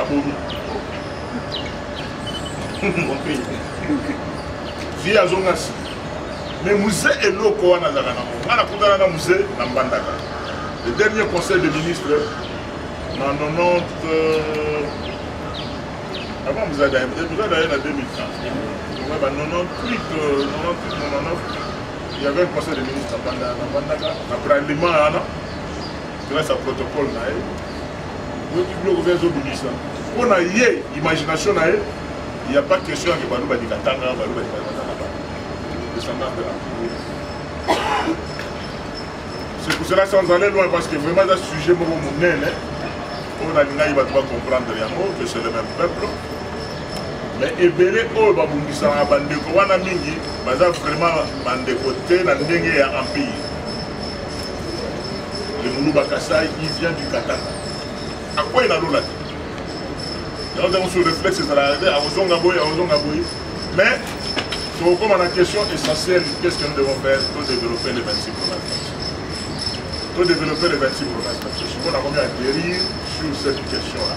abomi vie azonga si mais muse eloko wana azalaka nango nga nakutana na muse na mbandaka le dernier conseil de ministre na 90 euh, avant muza daye muza daye na 2015 donc ba 98 98 99 il y avait un conseil de ministre na mbandaka na bralima wana grâce à protocole na ye oyoki biloko mpe azobimisa mpo na ye imagination na ye ya pas question yake baluba likatanga baluba likatanga descendance de la c'est pour cela sans aller loin parce que vraiment eza sujet moko monene oyo nalingaki bato bacomprendre yango que c'est le même peuple mais ebele oyo babungisaka bandeko wana mingi baza vraiment bandeko te na ndenge ya empire le muluba kasai il vient du katanga akwei na lola te yango ntango sur réflexe ezalaka te akozonga boye akozonga boye mais tokokoma na question essentielle qu'est ce que nous devons faire to développer les 26 provinces to développer les 26 provinces parce que sikoyo nakomi à guérir sur cette question là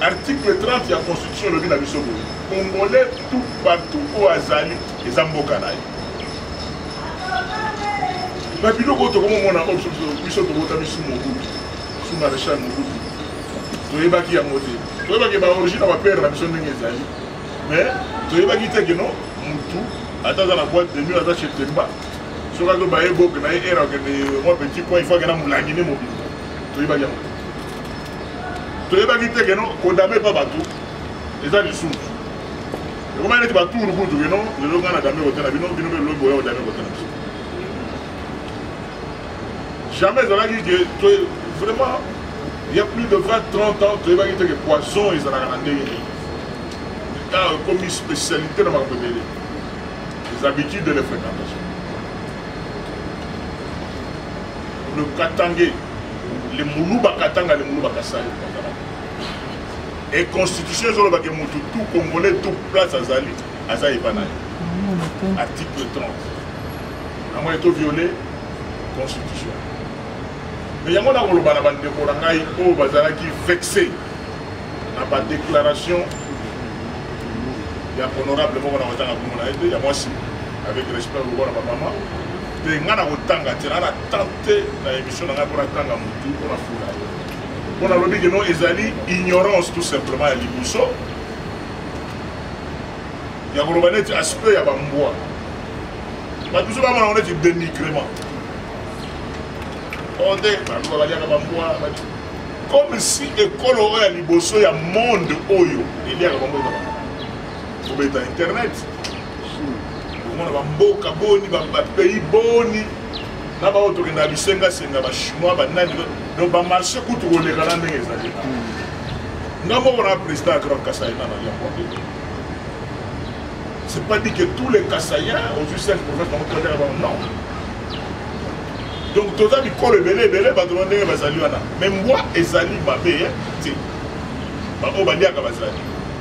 Article 30 ya constitution elobi na biso boye congolais tout partout oyo azali eza mboka na ye babiloko oyo tokomomona oyo biso tokota biso mobutu su maréchal mobutu toyebaki yango te toyebaki baorigine ya bapere na biso ndenge ezali mais toyebaki te keno mutu ata aza na boite de mur aza chez temba soki azo baye boke na ye ere akende mwa petit coin ifo akenda molangi nde mobimba toyebaki yango toyebaki te keno kodame epa bato eza lisusu ekomaki neti baturu kutu keno lelo ngai na dame kotala bino bino mpe lobi boya kodame kotala biso jamais ezalaki ke vraiment il y a plus de 20 30 ans toyebaki te ke poison ezalaka na ndenge nini car ekomi spécialité na makambo ebele les habitudes de les fréquentations le katangais le muluba katanga le muluba kasai et constitution ezolobake motu tout congolais tout place azali aza epa na ye article 30 yango eto viole constitution me yango nakoloba na bandeko na ngai oyo bazalaki vexe na badéclaration ya honorable moko na kotanga komona ye te ya mwasi avec respect lokola bamama mpe ngai nakotanga te na na te na émission na ngai mpo natanga motu mpo nafula ye mpo nalobi keno ezali ignorance tout simplement ya liboso ya koloba neti aspect ya bambwa bato biso bamona ngo neti dénigrement o oh, nde baluba baliaka bambwa comme si ekolo oyo ya liboso ya monde oyo eliaka bango eza kobeta internet omona bamboka boni bapays boni na baoyo tokendaka bisengasenga bachinois banani donc bamarché kutu koleka na ndenge ezali nga moko na président ya grand kasai na nali yango c'est pas dit que tous les kasaïens ozwi 5 province bango toleka bango non donc toza bikolo ebele ebele bato ba ndenge bazali wana mais mbwa ezali mabe te baoyo baliaka bazali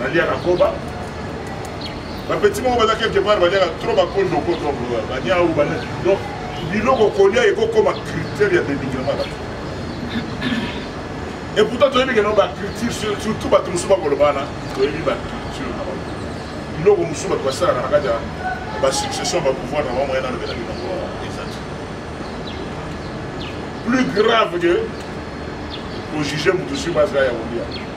baliaka koba bapeti moko baza quelque part baliaka trop bakondoko donc euh, baniau donc biloko kolia ekokoma critère ya dénigrement bato et pourtant toyebi keno bacriture surtout bato mosusu bakoloba wana toyebi bacriture na bango biloko mosusu bato basalaka na kati ya basuccession bapouvoir na bango yanalobela bino ezati plus grave que kojuge moto sur base ya kolia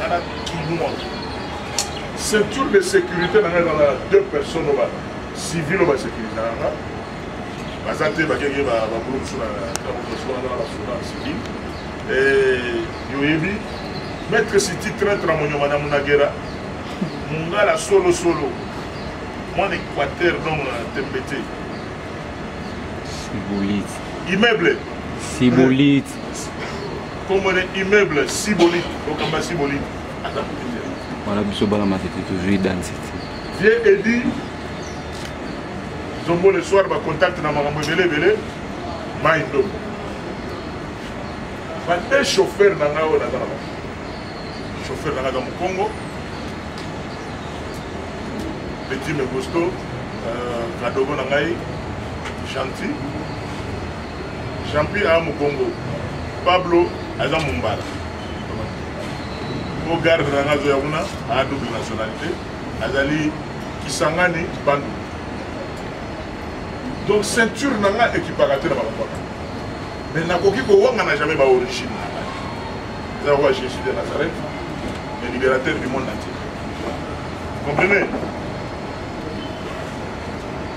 nana kinois ceinture de sécurité na ngai ezalaka deux personnes oyo bacivil oyo basécurise na nga baza te bakenge babolo mosusu na basoda civil yoyebi maître city traitre na monyoma na munagera mungala solosolo mwana équateur donc na tembe te immeuble sibolite Comme on est immeuble, si bonite, donc on va si bonite. Voilà, bisous, bala ma tête, toujours danse. Viens et dis, Zombo le soir, ma contact na maman Bele Bele, ma indo. Ma te chauffeur na ngao na ngao. Chauffeur na ngao na Congo. Petit Megosto, euh, Kadogo na ngai, gentil. Champi a mukongo. Pablo aza mumbala. Au garde na ngazo ya kuna a double nationalité azali Kisangani Bandu. Donc ceinture na nga ekipaka te na balapaka. Mais nakoki kowanga na jamais ba origine na nga. Eza roi Jésus de Nazareth, le libérateur du monde entier. Comprenez?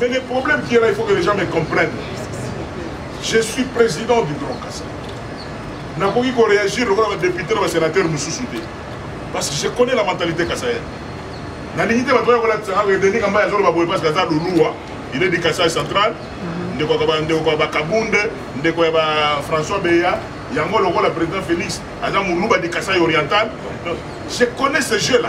Mais le problème qui est là, il faut que les gens me comprennent. Je suis président du Grand Kassai. nakoki koréagir lokola badepute na basénateur mosusu te parce que je connais la mentalité kasayen nalingi te bato oyo kolatisaka redenika mbai azoloba boye parce que aza luluwa il est du kasai central mhm. ndeko ya bakabunde ndeko ya ba françois beya yango lokola président félix aza moluba du kasai oriental je connais ce jeu là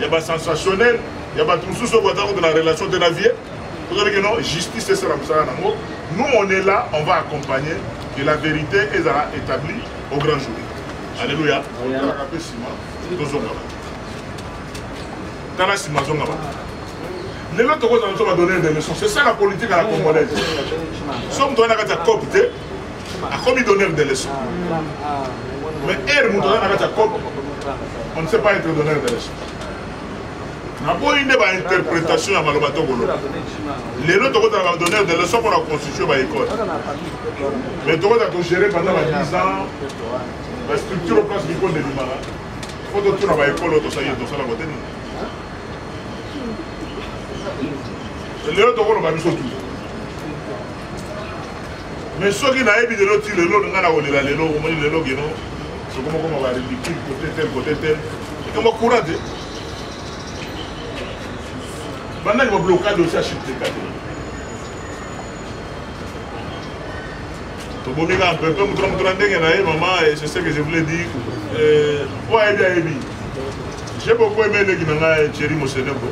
ya ba sensationnel ya bato mosusu oyo baza kutu na relation te na vie tozali ke non justice esala mosala nango nous on est là on va accompagner que la vérité ezala établie au grand jour alléluia talaka mpe nsima tozonga bato tala nsima azonga bato lelo tokozala biso badonner des leçons c'est ça la politique à la congolaise soki moto wana kati ya cope te akomi donneur de leçon mais heure moto aza na kati ya cope on ne sait pas être donneur de leçon naboyi nde bainterprétation ya maloba tokoloba lelo tokotala badonneur de leçon mpona constitution baekole mais tokozala togere pendant ba 10 ans bastructure o place mikolo ebimaka fo totuna baekole oyo tosali tosala kote nini lelo tokoloba biso tu me soki nayebi lelo ti lelo nga na kolela lelo omoni lelo geno soko mokoma ba ridicule kote tel kote tel ekamba courant te bandaki bablokade osi achipteka te tobomi kaka mpepe moto na moto na ndenge na ye mama eh, c'est ce que je voulais dire eh, oyo ayebi ayebi j'ai beaucoup aimé eleki na ngai thierry moseneko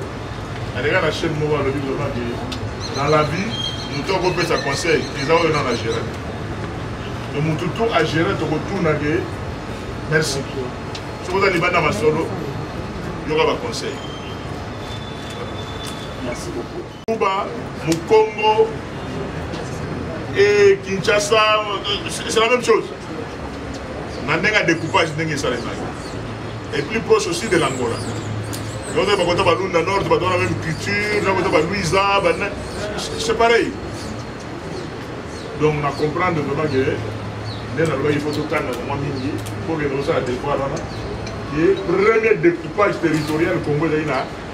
aleka na chaine moko alobi vraiment ke na la vie moto akopesa conseil eza oyo nana gere e motu to agere tokotuna ke merci soki oza libanda masolo yoka baconseil kuba mokongo et kinshasa c'est la même chose na ndenge ya découpage ndenge esalemaki et plus proche aussi de l'angola donc bakota balunda nord bato wana même culture nakota baluisa bana c'est pareil donc na comprendre vraiment ke nde nalobaki fo totanga mwa mingi mpo kende kosala devoir wana ye premier découpage territorial congo ezali na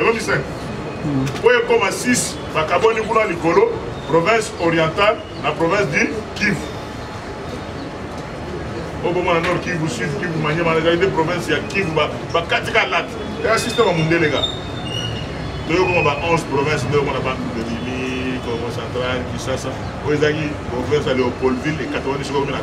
elongi 5 oyo ekoma 6 bakabwani kuna likolo province orientale na province du kivu obomona nord kivu sud kivu manyema ezali nde province ya kivu bakati ka late ya systeme ya mondelenga toyokoma ba 11 province nde omona bantu delimi congo central kisasa oyo ezalaki province ya leopoldville ekatwani soki omi na 3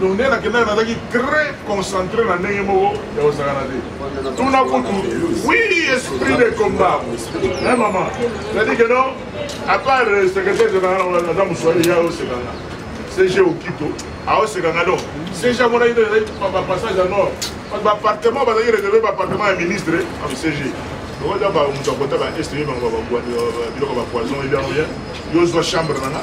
donc nde nakendaki nazalaki très concentré na ndenge moko ya kosakana te tuna kutu oui esprit de combat e mama cetadi que non à part euh, secrétaire général naza moswali ya osekanga cg okito aosekanga donc cg amonaki nde ezalaki bapassage ya nord bapartement bazalaki réserve bapartement ya ministre am ah, cg okoza moto akota ba est yo bango biloko bapoison ebiango bien yo ozwa chambre nanga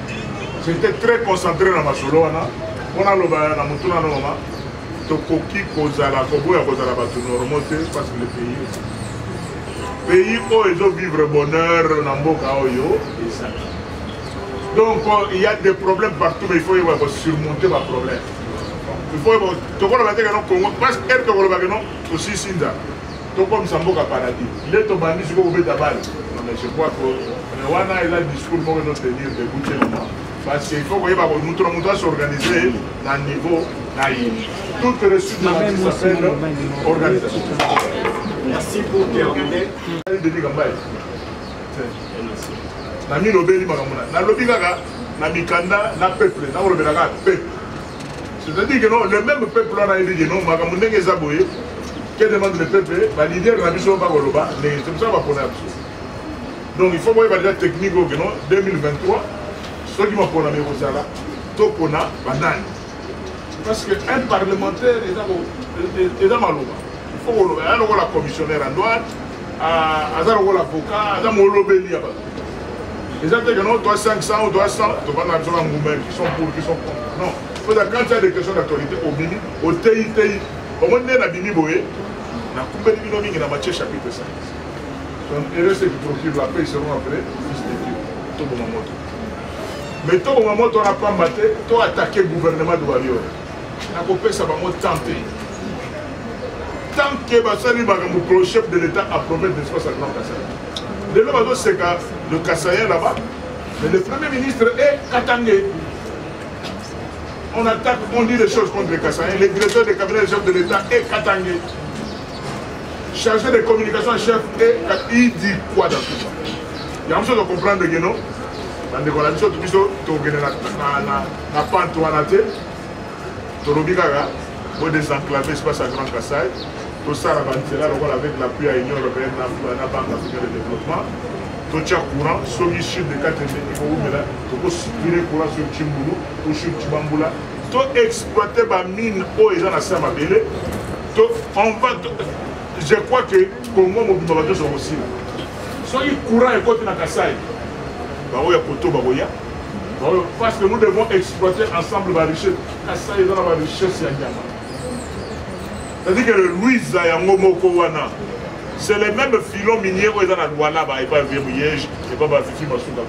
j'étais très concentré na masolo wana mpo naloba na motuna na mama tokoki kozala koboya kozala bato normaux te parce que le pays pays oyo ezovivre bonheur na mboka oyo ezali donc il y a des problèmes partout mais il faut yeba kosurmonter baproblème il faut yeba tokolobaka te keno congo parce que ere tokolobaka no tosisi nzala tokomisa mboka paradis nde tobandi siko kobeta bale mais je crois que euh, wana eza discours moko ezotenir debout te na moi parce que il faut koyeba ko moto na moto asorganize na niveau na ye toute réussite de la vie s'appelle organisation merci pour terminer denis kambaye na mino obeli makambo na nalobi kaka na mikanda na peuple nakolobela kaka peuple c'est-à-dire que non le même peuple wana ayebi que non makambo ndenge eza boye que demande le peuple balider na biso bakoloba ndenge c'est mosala bapona ya biso donc il faut boyeba deja technique oyo que non 2023 soki maponami ekozala topona banani parce que un parlementaire eza maloba il faut koloba ya lokola commissionnaire ya droite aza lokola avocat aza molobeli ya bato eza te que non toi 500 ou toi 100 tobanga biso na ngumba qui sont pour qui sont contre non oza quand il y a des questions d'actualité obimi oteyi teyi omoni nde nabimi boye nakumbeli bino mingi na matie chapitre 5 donc heureux ceux qui procure la paix seront appelés fils de dieu toboma moto mais toboma moto wana pamba te to attaquer gouvernement de warrior nakopesa bango temps te tant que basali makambo prochef de l'état apromete de espace à grand kasai lelo bazoseka le kasayen là-bas mais le premier ministre est katangais on attaque on dit les choses contre le kasayen le directeur de cabinet de chef de l'état est katangais chargé de communication en chef et il dit quoi dans tout ça yango biso tocomprendre ke no bandeko na biso biso tokende na pante wana te tolobi kaka bo désenclaver espace ya grand kasai tosala banzela lokola avec l'appui ya union européenne na banque africaine de développement totya courant soki sud ekatende ekowumela tokosupire courant sur cimbulu ou sur cibambula to exploite bamine oyo eza na se ya mabele to on va je crois que congo mobimba bato nyonso bakosila soki courant ekoti na kasai baoyo ya koto bakoya Oh, parce que nous devons exploiter ensemble la richesse. Ça, il y a la richesse à Nyama. C'est-à-dire que le Louisa Yangomoko Wana, c'est le même filon minier où il y a la Luana, et pas Verriège, et pas Bafifi Masuka.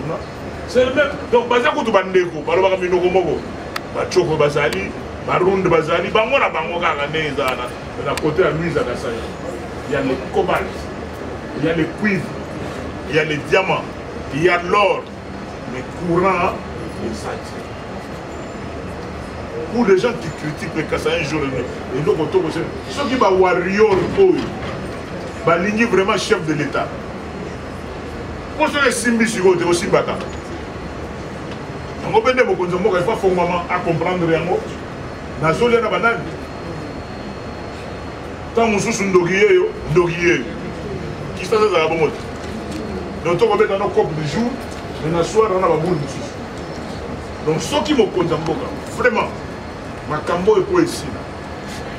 C'est le même. Donc, Bazia Koutou Bandeko, Balobaka Minoko Moko, Bachoko Bazali, Baround Bazali, Bango na Bango Kaka Neza, na côté à Louisa Kassaya. Il y a le cobalt, il y a le cuivre, il y a le diamant, il y a l'or. Mais courant, il s'attire. Pour les gens qui critiquent les Kassa un jour, et donc autour de ceux qui va warrior, oh, va ligner vraiment chef de l'État. Pour ceux qui sont ici, ils aussi battant. yango mpe nde mokonzi ya mboka efa fongwama acomprendre yango nazolya na banani ntango mosusu ndoki yeyo ndoki yeyo kisasa ezala bongo te donc tokobeta no cope du jour mais na soir wana babulu mosusu donc soki mokonzi ya mboka vraiment makambo oyo mpo esila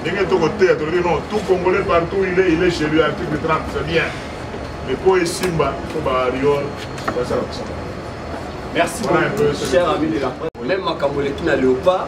ndenge tokoteya tolobi non tout congolais partout il est il est chez lui article 30 c'est bien mais mpo esimba mpo baariol basala kosala merci beaucoup cher ami de la presse même makambo eleki na léopard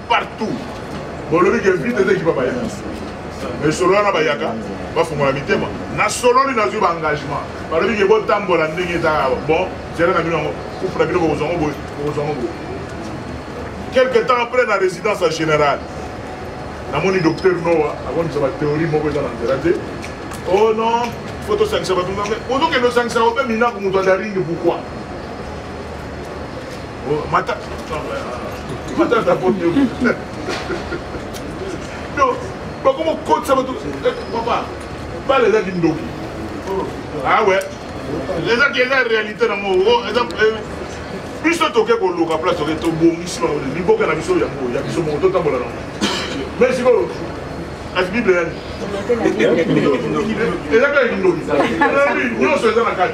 partout bolobi ke vite eza ekipa baya esolo wana bayaka bafungola mitema nasololi nazwi baengagement balobi ke botambola ndenge eza bon zela na bino yango kufu na bino bokozwa ngo boye bokozwa ngo boye quelque temps après na résidence ya général namoni docteur noa akomisa bathéorie moko eza na nzela te o oh non fo tosangisa bato ozokende osangisaka obe minaku moto adaringi pourkoi Oh, mata matata komi no bakoma kokotisa bato eh, papa bala ezaki ndoki awe ah ezaki eza réalité na ngo oh, eh, biso toke koluka place toke tobongisi liboka na biso yango ya biso moko totambola nango mais sikoyo kasi bible yani eza kaka kindoki nyonso eza na kati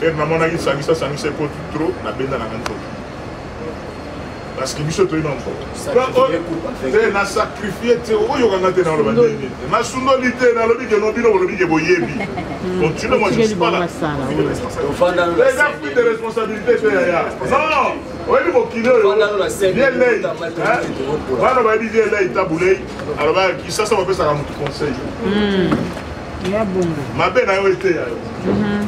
heure namonaki sangisa sangisa ekoti trop nabenda nanga nzoto parce que biso toyina mpote na sacrifie te oyokanga te naloba ndenge nasundoli te nalobi ke nobino bolobi ke boyebi continue moi je suis pas là eza pris de responsabilité te yaya non oyebi mokili oyo vielei bana bayebi vielei tabulei alobaki kisasa bapesaka motu conseil mabe na yo eteya yo mhm.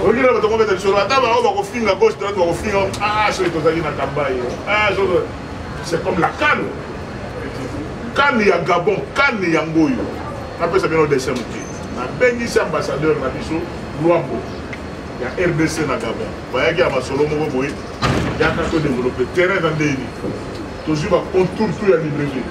olingi na bato kobeta lisolo ata bango bakofinga gauche droite bakofinga ah, soki tozali na kambai ah, c'est comme la kane kane ya gabon kane yango oyo napesa bino dessin moke nabengisi ambassadeur na biso lwambo ya rdc na gabon bayaki ya masolo moko boye yaka todeveloppe terrain na ndeni tozwi bacontour to ya libreville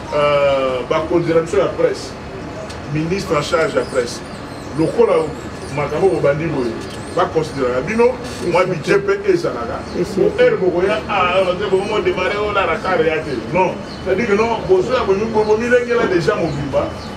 Euh, bakonzi na biso ya presse ministre en charge ya presse lokola makambo bobandi boye baconsideraka bino mwa bidje mpe ezalaka heure bokoya bomo demare oyo na rakare ya te non cetadire non bozoya bomilengela deja mobimba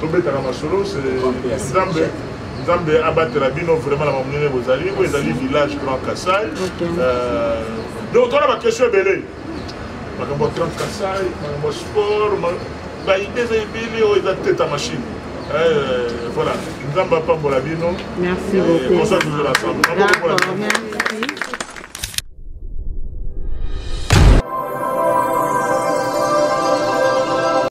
tobetaka masolo nzambe nzambe abatela bino vraiment na bamonene bozali oyo ezali village grand kasai euh, donc tona baquestion ebele makambo ya grand kasai makambo ya sport baide eza ebele oyo eza teta machine euh, voilà nzambe apambola bino merci euh, beaucoup bonsoir toujours ensemble